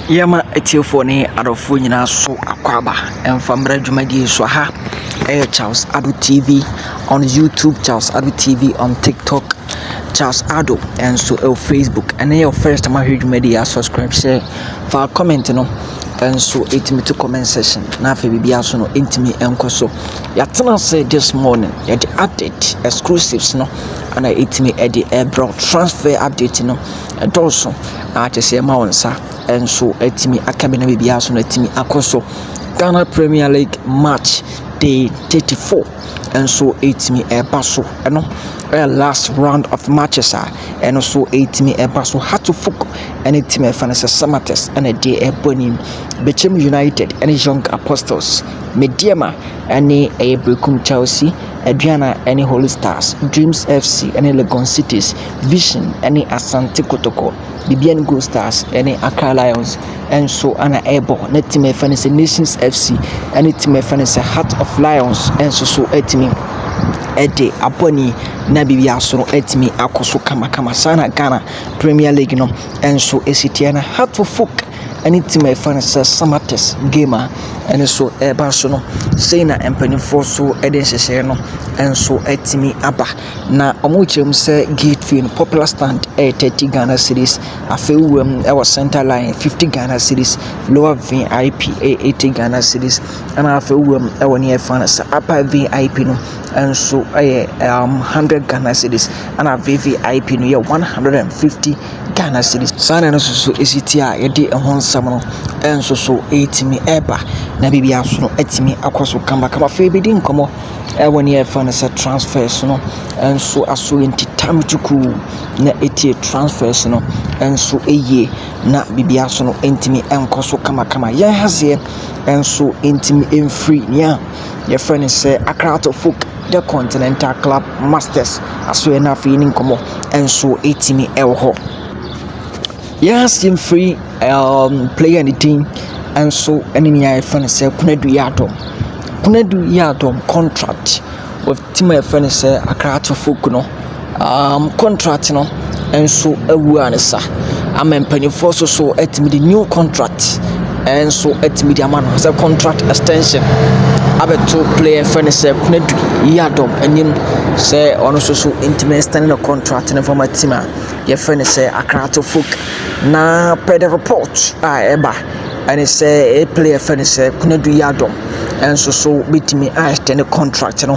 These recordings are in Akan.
Yɛma atiefoɔ ne adɔfoɔ nyinaa so akwaaba ɛmfa mmra dwumadie so aha ɛyɛ Charles Ado TV on YouTube Charles Ado TV on TikTok Charles Ado ɛnso ɛwɔ Facebook ɛne yɛ first time ahwɛ dwumadie a subscribe sɛ fa comment no ɛnso ɛtumi to comment section na afei biribi aso no ɛntumi ɛnkɔ so Yɛatena ase this morning yɛde update exclusives no ana ɛtumi ɛde ɛbrɛ transfer update no ɛdɔɔso a kyɛ sɛ ɛma wo nsa ɛnso ɛtumi aka bi na biribiara so no ɛtumi akɔ so Ghana Premier League match day 34 ɛnso ɛtumi ɛba so ɛno ɛyɛ last round of matches a ɛno so ɛtumi ɛba so Hatofuk ɛne team ɛfa no sɛ Samatex ɛna ɛde ɛbɔ anim Bechem United ɛne Young Apostles Medeama ne ɛyɛ Berekum Chelsea, Aduana ne Holy Stars, Dreams FC ne Legon Cities, Vision ne Asante Kotoko, Bibiani Gold Stars ne Accra Lions nso na ɛrebɔ. Na team a yɛfrɛ no sɛ Nations FC ne team a yɛfrɛ no sɛ Heart of Lions nso so atumi de abɔ ani na biribi aso no atumi akɔ so kamakama. Saa na Ghana Premier League no nso si teɛ na Heartful Folk ɛne team a yɛfrɛ no sɛ Samatex game a ɛno nso ɛreba so no, sei na mpanimfoɔ nso de nhyehyɛeɛ no nso atumi aba. Na wɔkyerɛ mu sɛ gate fee no popular stand yɛ thirty Ghana cedis, afei wowura mu wɔ centre line fifty Ghana cedis, lower VIP yɛ eighty Ghana cedis, ɛna afei wowura mu wɔ near yɛfrɛ no sɛ upper VIP no nso yɛ um hundred Ghana cedis, ɛna VVIP no yɛ one hundred and fifty. Ghana cedis. Saa na ɛno nso so ɛsi ti a yɛde ɛho nsɛm no nso so ɛretumi ɛreba na biribi nso no atumi akɔ so kamakama. Afei yɛbɛdi nkɔmmɔ ɛwɔ nea yɛfrɛ no sɛ transfers no nso aso nti tam tukuu na ɛtie transfers no nso yie na biribi nso no ntumi nkɔ so kamakama. Yɛn ha seɛ nso ntumi mfiri nea yɛfrɛ no sɛ Accra to Folk. The Continental Club Masters asoɛeɛ no afei ne nkɔmmɔ nso ɛtumi wɔ hɔ. Yɛn ase mfiri um, player ne din nso ne nea yɛfrɛ no sɛ Kunadu Yadom. Kunadu Yadom contract with team a yɛfrɛ no sɛ Accra Tofuk no. um contract no nso awu ansa ama mpanyinfoɔ nso so atumi de new contract nso atumi de ama no sɛ contract extension abɛto player yɛfrɛ no sɛ Konadu Yiadom anim sɛ ɔno nso so ntumi extend ne contract no nfa ma team a yɛfrɛ no sɛ Akraate Folk na per the report a ɛba ɛne sɛ ɛyɛ player yɛfrɛ no sɛ Konadu Yiadom nso so betumi a extend ne contract no.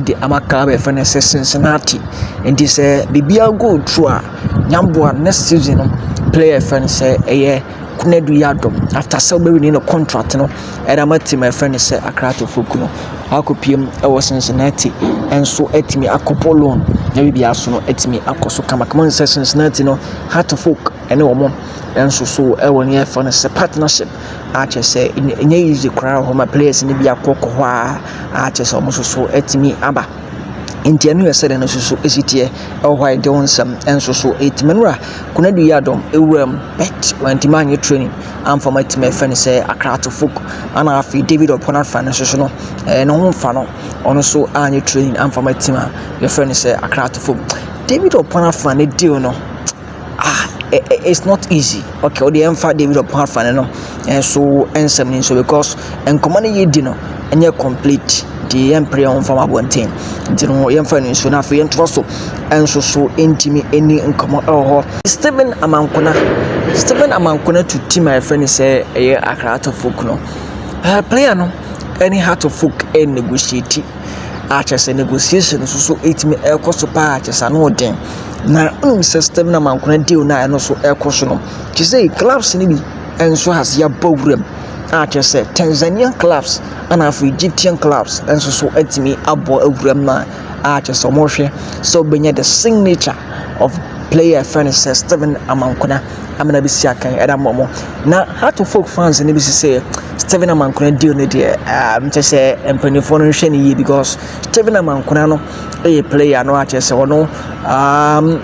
de ama kaa a yɛfrɛ no sɛ Cincinnati. Nti sɛ biribiara go through a, Yeboah next season no player a yɛfrɛ no sɛ ɛyɛ Konadu Yiadom. After sɛ ɔbɛwini ne contract no de ama team a yɛfrɛ no sɛ Accra Akorɔfo Kunu. Wakɔpue mu wɔ Cincinnati nso atumi akɔbɔ loan na biribiara nso no atumi akɔ so kamakama. Wohu sɛ Cincinnati no, Hearts of Oak ne wɔn nso so wɔ nea yɛfrɛ no sɛ partnership. a kyerɛ sɛ ɛnyɛ easy koraa wɔ hɔ ma players no bi akɔ kɔ hɔ ara a kyerɛ sɛ wɔn nso so atumi aba. Nti ɛno yɛ sɛdeɛ no nso so si teɛ wɔ hɔ a yɛde wo nsɛm nso so ɛtumi nwura Konadu Yiadom ɛwuram but wantumi anyɛ training amfa ma atumi ɛfɛ no sɛ Akrato folk ana afei David Ɔpɔn afa no nso so no ɛɛ ne ho mfa no ɔno nso anyɛ training amfa ma atumi a yɛfrɛ no sɛ Akrato folk David Ɔpɔn afa ne deal no ah it's not easy okay ɔde yɛn fa david ɔpɔn afane no nso nsɛm no nso because nkɔmɔ no yɛ di no ɛnyɛ complete nti yɛn mpere yɛn ho fam abɔnten nti no yɛn fa no nso na afei yɛn to so nso so ntumi ɛni nkɔmɔ ɛwɔ hɔ stephen amankona stephen amankona to team a yɛfrɛ no sɛ ɛyɛ akra atɔfo kuno player no ɛne heart of folk ɛnegotiate a kyerɛ sɛ negotiation nso so ɛtumi ɛkɔ so paa kyerɛ sɛ ano yɛ den na wonim sɛ stem na mankona deal no a ɛno so ɛkɔ so no te sɛ clubs no bi nso has yɛabɔ wuram a kyerɛ sɛ Tanzanian clubs ana afei Egyptian clubs nso so atumi abɔ awuram no a kyerɛ sɛ wɔhwɛ sɛ wobɛnya the signature of player friend sɛ Steven Amankona amena bi si akan ɛde ama wɔn na heart of oak fans no bi si sɛ steven amankona deal no deɛ ah, kyɛ sɛ mpanimfoɔ no nhwɛ no yie because steven amankona no yɛ player no akyɛ sɛ ɔno um,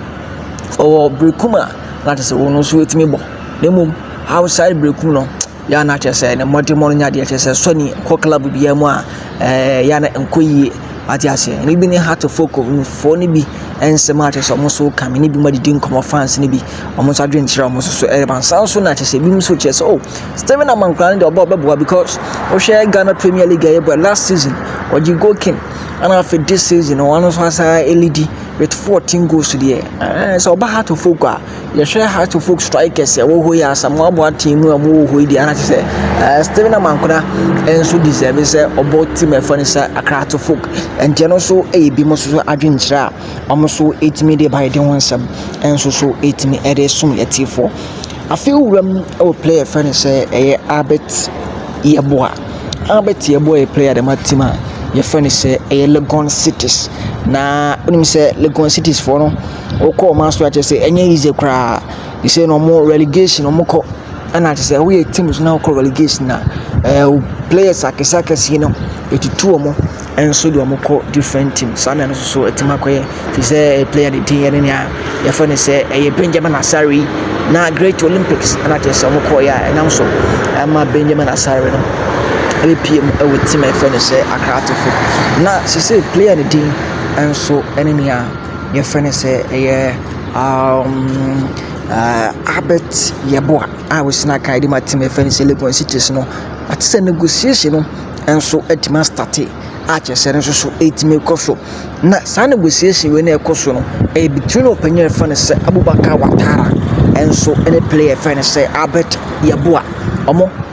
ɔwɔ berekum a na akyɛ sɛ wɔn nso ɛtumi bɔ na mmom outside berekum no Yɛ a na kyerɛ sɛ ne mmɔdemmɔ no nya deɛ kyerɛ sɛ sɔ ni kɔ club biara mu a ɛɛ yɛ a na nkɔ yie ate aseɛ ɛno bi ne hatofoko foɔ no bi nsɛm a kyerɛ sɛ wɔn nso ka me ne bi mu adidi nkɔmɔ fans no bi wɔn nso adwene kyerɛ wɔn nso so ɛreba nsa nso na kyerɛ sɛ ebinom nso kyerɛ sɛ o oh, Stephen Amankwa no deɛ ɔbɔ ɔbɛboa because wohwɛ Ghana Premier League ɛyɛ bɔ last season ɔgye goal king ɛna afei this season wɔn nso asan ɛlidi with fourteen goals deɛ ɛɛ sɛ ɔba hatofoko a yɛhwɛ Hearts of Oak strikers a ɛwɔ hɔ yi, Asamoah Boateng mu a wɔwɔ hɔ yi deɛ ana te sɛ ɛɛ Stephen Amankona nso deserve sɛ ɔbɔ team a ɛfɔ no sɛ Accra Hearts of Oak nti ɛno nso yɛ bi mo nso so adwenkyerɛ a wɔn nso ɛtumi de ba yɛde ho nsɛm nso so ɛtumi ɛde som yɛtiefoɔ afei wura mu ɛwɔ player fɛ no sɛ ɛyɛ Albert Yeboah Albert Yeboah yɛ player dɛm atim a yɛfɛ no sɛ ɛyɛ Legon Cities na wonim sɛ Legon Cities foɔ no Wokɔ wɔn ase a kyerɛ sɛ ɛnyɛ easy koraa. They say no more relegation wɔn kɔ ɛna kyerɛ sɛ woyɛ team na wokɔ relegation a ɛɛ players akɛse akɛse no etutu wɔn nso de wɔn kɔ different team. Saa na ɛno nso so ɛtumi akɔyɛ. Te sɛ player de din yɛ ne nea yɛfrɛ no sɛ ɛyɛ Benjamin Asare yi na Great Olympics ɛna kyerɛ sɛ wɔn kɔeɛ a ɛnam so ama Benjamin Asare no apue mu ɛwɔ team a yɛfrɛ no sɛ Accra Atefo. Na sese player no din nso ɛne nea. yɛfrɛ no sɛ ɛyɛ Albert Yeboah a ɔsi n'akan de ma tim a yɛfrɛ no sɛ Legon cities no ate sɛ negotiation no nso atumi astate a kyerɛ sɛ ɛno nso so ɛtumi kɔ so na saa negotiation wei na ɛkɔ so no ɛyɛ between ɔpanin a yɛfrɛ no sɛ Abubakar Watara nso ɛne player a yɛfrɛ no sɛ Albert Yeboah wɔn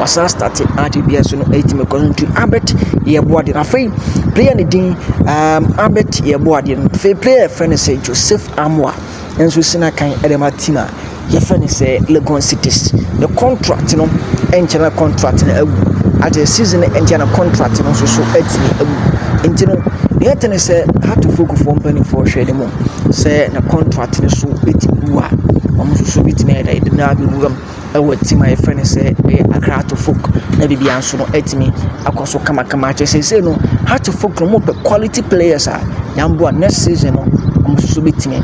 wasan starte art dua so no ɛtumi kɔ nti Albert Yeboah afei player ne din um, Albert Yeboah deɛ afei player fɛ no sɛ Joseph Amoa nso si n'akan ɛde ma team a yɛfɛ no sɛ Legon Cities ne contract no ɛnkyɛ na contract no awu at the season ɛnkyɛ na contract no nso so ɛtumi awu nti no deɛ ɛte ne sɛ hatofo gufoɔ mpanimfoɔ hwɛ ne mu sɛ na contract no so ɛtumi wu a wɔn nso so bɛtumi ayɛ dɛ ɛde no abɛwura mu wɔ team a yɛfrɛ no sɛ ɛyɛ Accra Heart of Oak na biribiara nso no atumi akɔ so kamakama kyerɛ sɛ seesei no Heart of Oak no wɔpɛ quality players a yɛaboa next season no wɔn nso so bɛtumi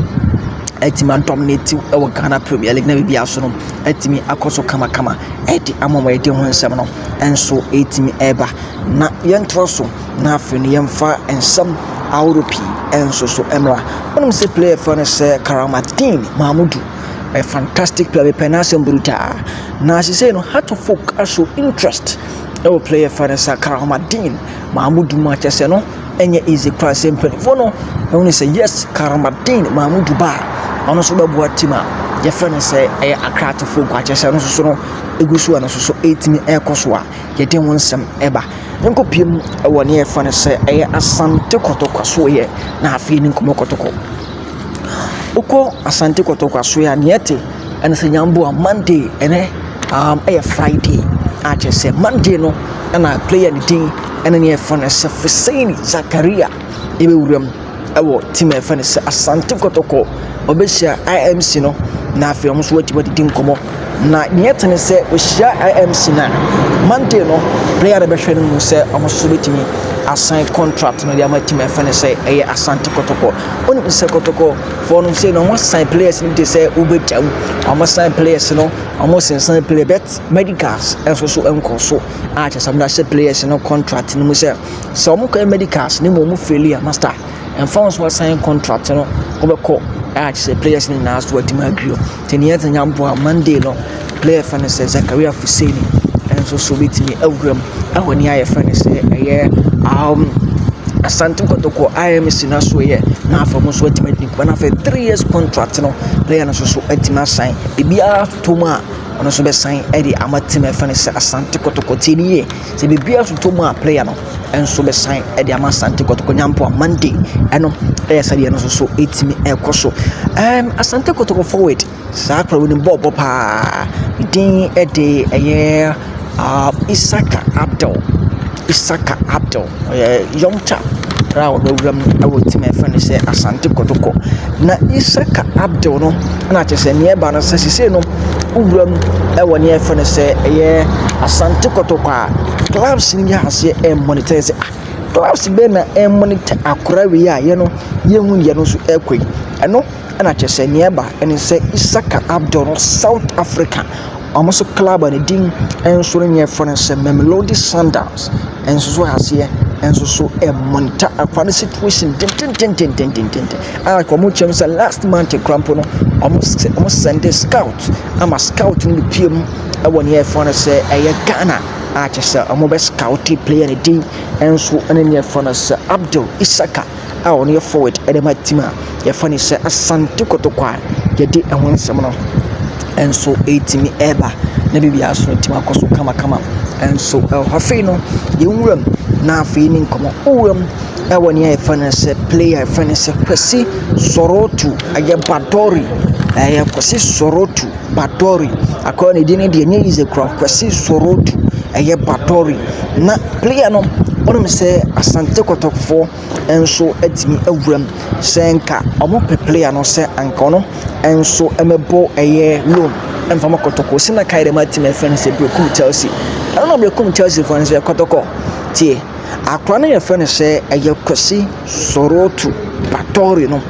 atumi adominate wɔ Ghana Premier League na biribiara nso no atumi akɔ so kamakama de ama wɔn yɛde ho nsɛm no nso ɛretumi reba na yɛntoa so na afei no yɛmfa nsɛm ahorow pii nso so mmra wonim sɛ player fɛ no sɛ Karamatdin Mahmudu a fantastic player mepɛ n'asɛm brutaa na seesei no Hearts of Oak aso interest ɛwɔ player fa no sɛ Karamadin Mahmoud mu akyɛ sɛ no ɛnyɛ easy koraa sɛ mpanimfoɔ no ɛhu ne sɛ yes Karamadin Mahmoud ba a ɔno nso bɛboa team a yɛfrɛ no sɛ ɛyɛ Accra to Folk akyɛ sɛ no soso no ɛgu so a no soso ɛtumi ɛkɔ so a yɛde ho nsɛm ɛba nkɔ pie mu ɛwɔ ne yɛfrɛ no sɛ ɛyɛ Asante Kɔtɔkɔ so yɛ na afei ne nkɔmmɔ kɔtɔkɔ Wokɔ Asante kɔtɔ kwaso yi a nea ɛte ɛne sɛ nyamboa Monday ɛne um ɛyɛ Friday a kyerɛ sɛ Monday no ɛna player no din ɛne nea yɛfrɛ no sɛ Frissaini Zakaria ɛbɛwura mu ɛwɔ team a yɛfrɛ no sɛ Asante kɔtɔkɔ ɔbɛhyia IMC no na afei wɔn nso wɔatumi adidi nkɔmmɔ. Na nea ɛte ne sɛ wɔhyia IMC no a, Monday no player no bɛhwɛ no mu sɛ wɔn nso bɛtumi asan contract no de ama team ɛfɛ no sɛ ɛyɛ Asante Kotoko. Wonim sɛ Kotoko fɔ no sɛ na wɔn asan players no bi te sɛ wobɛgya mu, wɔn asan players no, wɔn sensan player bet medicals nso so nkɔ so a kyɛ sɛ wɔn ahyɛ players no contract no mu sɛ sɛ wɔn kɔ medicals ne mu wɔn faili a master ɛmfa wɔn so asan contract no wɔbɛkɔ a kyɛ sɛ players no nyinaa so wɔatumi agrew. Te nea ɛdze nyambowa Monday no bɛ yɛfrɛ no sɛ Zakaria Fuseni nso so bɛtumi awura mu wɔ nea yɛfrɛ no sɛ ɛyɛ um Asante Kotoko IMC no so yɛ na afei wɔn nso atumi adi nkuma na afei three years contract no player no nso so atumi asan biribiara totɔ mu a ɔno nso bɛsan de ama team a yɛfrɛ no sɛ Asante Kotoko. Tie no yie. Sɛ biribiara nso tɔ mu a player no nso bɛsan de ama Asante Kotoko Nyampɔ a Monday ɛno ɛyɛ sɛdeɛ no nso so ɛtumi ɛkɔ so. Um, Asante Kotoko forward saa akora wɔ ne bɔɔlbɔ paa ne din ɛde ɛyɛ uh, Isaka Abdel Isaka Abdel ɔyɛ young chap a ɔno awuram ɛwɔ team a ɛfɛ no sɛ Asante Kotoko na Isaka Abdel no na kyerɛ sɛ nea ɛreba no sɛ sesei no wowura mu wɔ nea yɛfrɛ no sɛ ɛyɛ asante kɔtɔkɔ a clubs no yɛ aseɛ ɛremonitɛɛ sɛ ah clubs bɛn na ɛremonitɛ akora wei a yɛ no yɛhu yɛ no so ɛrekɔ yi ɛno na kyerɛ sɛ nea ɛba ɛne sɛ isaka abdul no south africa wɔn so club a ne din nso no yɛfrɛ no sɛ mamelodi sundowns Nsusu aseɛ nsusu mmɔnta akwa no situation dendendendendenden a nka wɔn kyɛm sɛ last month kura mpo no wɔn sɛ wɔn sɛnde scout ama scout no pie mu ɛwɔ nea yɛfrɛ no sɛ ɛyɛ Ghana a kyerɛ sɛ wɔbɛ scout player no din nso ɛne nea yɛfrɛ no sɛ Abdul Isaka. a wɔn yɛ forward de ma team a yɛfrɛ no sɛ Asante Kotoko a yɛde ɛho nsɛm no nso ɛretumi ɛreba na biribiara nso atumi akɔ so kamakama nso ɛwɔ hɔ. Afei no yɛn nwura mu na afei ne nkɔmmɔ wo nwura mu ɛwɔ nea yɛfrɛ no sɛ player a yɛfrɛ no sɛ Kwesi Sorotu ɛyɛ Badore ɛyɛ Kwesi Sorotu. Batɔre, akɔla ne din no deɛ ɛnyɛ easy koraa, Kwasi Sorodu, ɛyɛ Batɔre. Na player no wonim sɛ Asante Kɔtɔkɔfoɔ nso atumi awura mu, sɛ nka wɔpɛ player no sɛ anka ɔno nso mmɛbɔ ɛyɛ loan mfa ma Kɔtɔkɔ. Sɛ na kae dɛm atimi afɛ no sɛ Berekum Chelsea. Ɛno na Berekum Chelsea foɔ no sɛ Kɔtɔkɔ tie. Akwadaa no yɛfrɛ no sɛ ɛyɛ Kwesi Sorotu Batɔre no.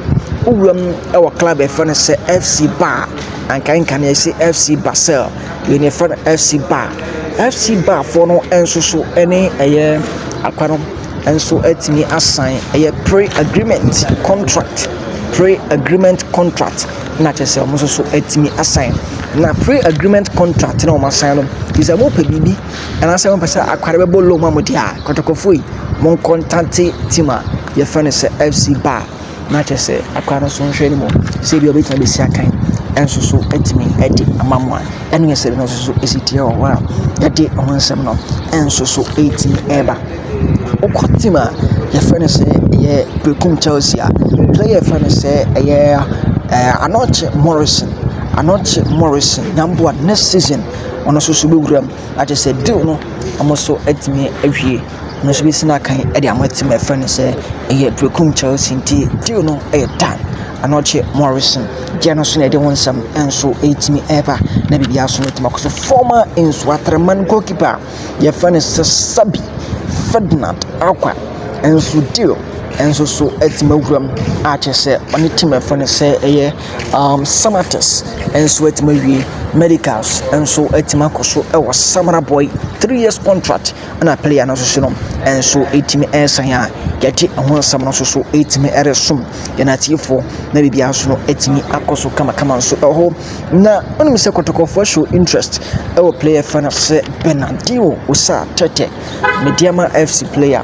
Wo wura mu wɔ club a yɛfrɛ no sɛ FC Bar. Nkaenka no yɛse FC Basel. Wei no yɛfrɛ no FC Bar. FC Bar foɔ no nso so ɛne ɛyɛ akwadaa no nso atumi asan ɛyɛ pre agreement contract, pre agreement contract na kyerɛ sɛ wɔn nso so atumi asan. Na pre agreement contract no a wɔasan no, kyerɛ sɛ wɔpɛ biribi. Anaasɛ mopɛ sɛ akware bɛbɔ low ma mo deɛ a, kɔtɔkɔfoɔ yi, monkɔntate team a yɛfrɛ no sɛ FC Bar na kyerɛ sɛ akware no so nhwɛ no mu sɛ ebi a wɔbɛtumi abɛsi akan nso so atumi de ama mo a ɛno yɛ sɛdeɛ no nso so ɛsi teɛ wɔ hɔ a yɛde ho nsɛm no nso so ɛtumi ɛreba wokɔ team a yɛfrɛ no sɛ ɛyɛ Berekum Chelsea a player yɛfrɛ no sɛ ɛyɛ Anokye Morrison Anokye Morrison Yamboa next season ɔno nso so bɛwura mu na kyerɛ sɛ deal no wɔn nso atumi awie. Ɔno nso bɛsi no akan de ama team a yɛfrɛ no sɛ ɛyɛ Berekum Chelsea nti deal no yɛ done. Ɛno akyi Morrison gyeɛ no nso na ɛde ho nsɛm nso ɛretumi ɛreba na biribiara nso atumi akɔ so. Former Nsoatreman goalkeeper a yɛfrɛ no sɛ Serbi Ferdinand Acquah nso deal nso so atumi awura mu a kyerɛ sɛ ɔne team a yɛfrɛ no sɛ ɛyɛ . um, Samatex nso atumi awie medicals nso atumi akɔ so wɔ samara boy three years contract ɛna player no nso so no nso atumi ɛresan a yɛde ɛho nsɛm no nso so atumi ɛresom yɛn atiefoɔ na biribiara nso no atumi akɔ so kamakama nso ɛhɔ na ɔnom sɛ kɔtɔkɔfoɔ show interest ɛwɔ player fa no sɛ Bernardino Osa Tete Medeama FC player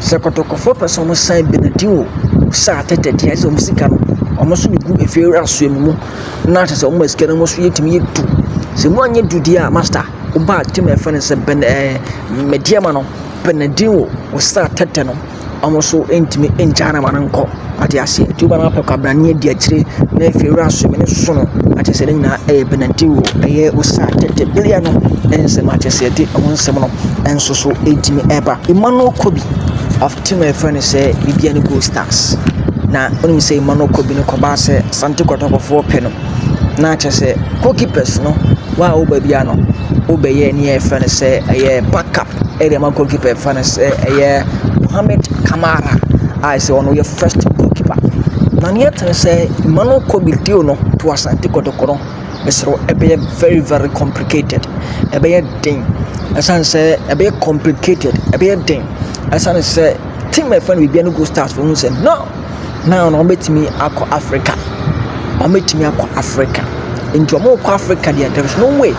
Sɛ kɔtɔkɔfoɔ pɛ sɛ ɔmo san benediw sɛ atɛtɛ deɛ ɛsɛ ɔmo sika no ɔmo so de gu efie wura soa mu na kyerɛ sɛ ɔmo ma sika no ɔmo so yɛ tumi yɛ du sɛ mo anyɛ du deɛ a masta wobaa te ma yɛfrɛ no sɛ bɛn ɛɛ medeɛma no benediw sɛ atɛtɛ no ɔmo so ntumi ngyaa no ma no nkɔ. Wate aseɛ nti wobɛma apɛ kwabrane adi akyire na afei wura so mene soso no wate aseɛ ne nyinaa ɛyɛ penalty o ɛyɛ osa tɛtɛbeleɛ no ɛne nsɛm a kyɛ sɛ ɛde ɛho nsɛm no nso so ɛtumi ɛba Emmanuel Kobi of team a yɛfrɛ no sɛ biribiara ne goal stars na wonim sɛ Emmanuel Kobi no kɔbaa sɛ Asante Kɔtɔkɔfoɔ pɛ no na kyɛ sɛ goalkeepers no wa a woba biara no wobɛyɛ ne yɛfrɛ no sɛ ɛyɛ backup Ɛde ama goal keeper yɛfrɛ no sɛ ɛyɛ Mohammed Kamara a sɛ ɔno yɛ first goal keeper na nea ɛte ne sɛ mma no kɔ bi deal no to Asante Kɔtɔkɔ no mesrɛ wo ɛbɛyɛ very very complicated ɛbɛyɛ den ɛsiane sɛ ɛbɛyɛ complicated ɛbɛyɛ den ɛsiane sɛ team a yɛfrɛ no Bibia no Gold Stars no hu sɛ no Now no wɔbɛtumi akɔ Africa, wɔbɛtumi akɔ Africa. Nti wɔrekɔ Africa deɛ there is no way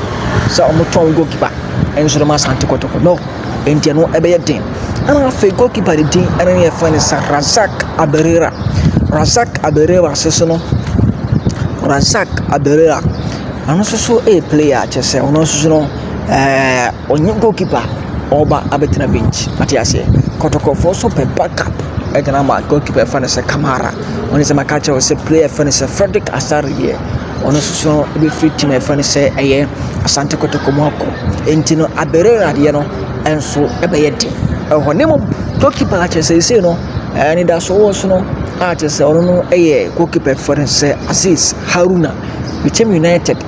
sɛ wɔtɔn goal keeper nso de ma Asante Kotoko no. Nti ɛno ɛbɛyɛ den. Ɛna afei goal keeper de din ɛna ne yɛfrɛ no sɛ Razak Abirira. Razak Abirira nso so no Razak Abirira ɔno nso so ɛyɛ player a kyerɛ sɛ ɔno nso so no ɛɛ. Ɔnyɛ goal keeper, ɔreba abɛtena bench. Wate aseɛ? Kɔtɔkɔfoɔ nso pɛ back up de no ama goal keeper a wɔfrɛ no sɛ Kamara. Wo nsɛm a maka akyerɛ wo sɛ player a wɔfrɛ no sɛ Fredrick Asare deɛ, ɔno nso so no, ɔbɛfiri team a wɔfrɛ no sɛ ɛyɛ Asante Kotoko mu akɔ. Enti no, Abere adeɛ no nso ɛbɛyɛ den wɔ hɔ. Na mmom, goal keeper a kyerɛ sɛ seesei no, ɛɛ anidasoɔ wɔ so no a kyerɛ sɛ ɔno no yɛ goal keeper a wɔfrɛ no sɛ Azeez Haruna, Bitam United.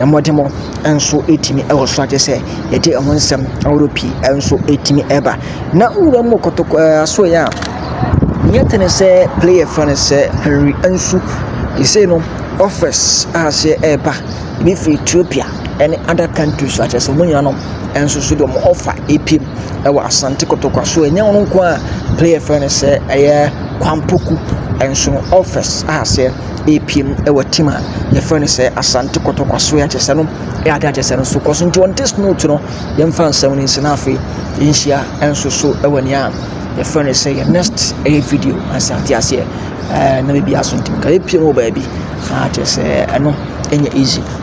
Mmɔdemmɔ nso tumi wɔ so a kyerɛ sɛ yɛde ɛho nsɛm ahorow pii nso tumi ba. Na nwura mu kɔtɔkɔ ɛɛ asoɛe a, nyɛ tene sɛ player fã no sɛ Henry Ansu. Seesei no, offers a aseɛ reba, ebi firi Ethiopia ne other countries a kyerɛ sɛ wɔn nyinaa no nso so de wɔn offer repue mu wɔ Asante Kotoko asoɛe. Ɛnyɛ wɔn nko ara a player fã no sɛ ɛyɛ Kwampɔku nso no, offers a aseɛ. repue mu wɔ team a yɛfrɛ no sɛ asante kɔtɔ kwaso yɛ akyɛsɛ no yɛ ade akyɛsɛ no so kɔ so nti wɔn test note no yɛmfa nsɛm no nsi na afei yɛnhyia nso so wɔ nea yɛfrɛ no sɛ yɛ next ɛyɛ video asɛ ate aseɛ ɛɛ na biribi aso ntumi ka yɛpue mu wɔ baabi akyɛ sɛ ɛno ɛnyɛ easy.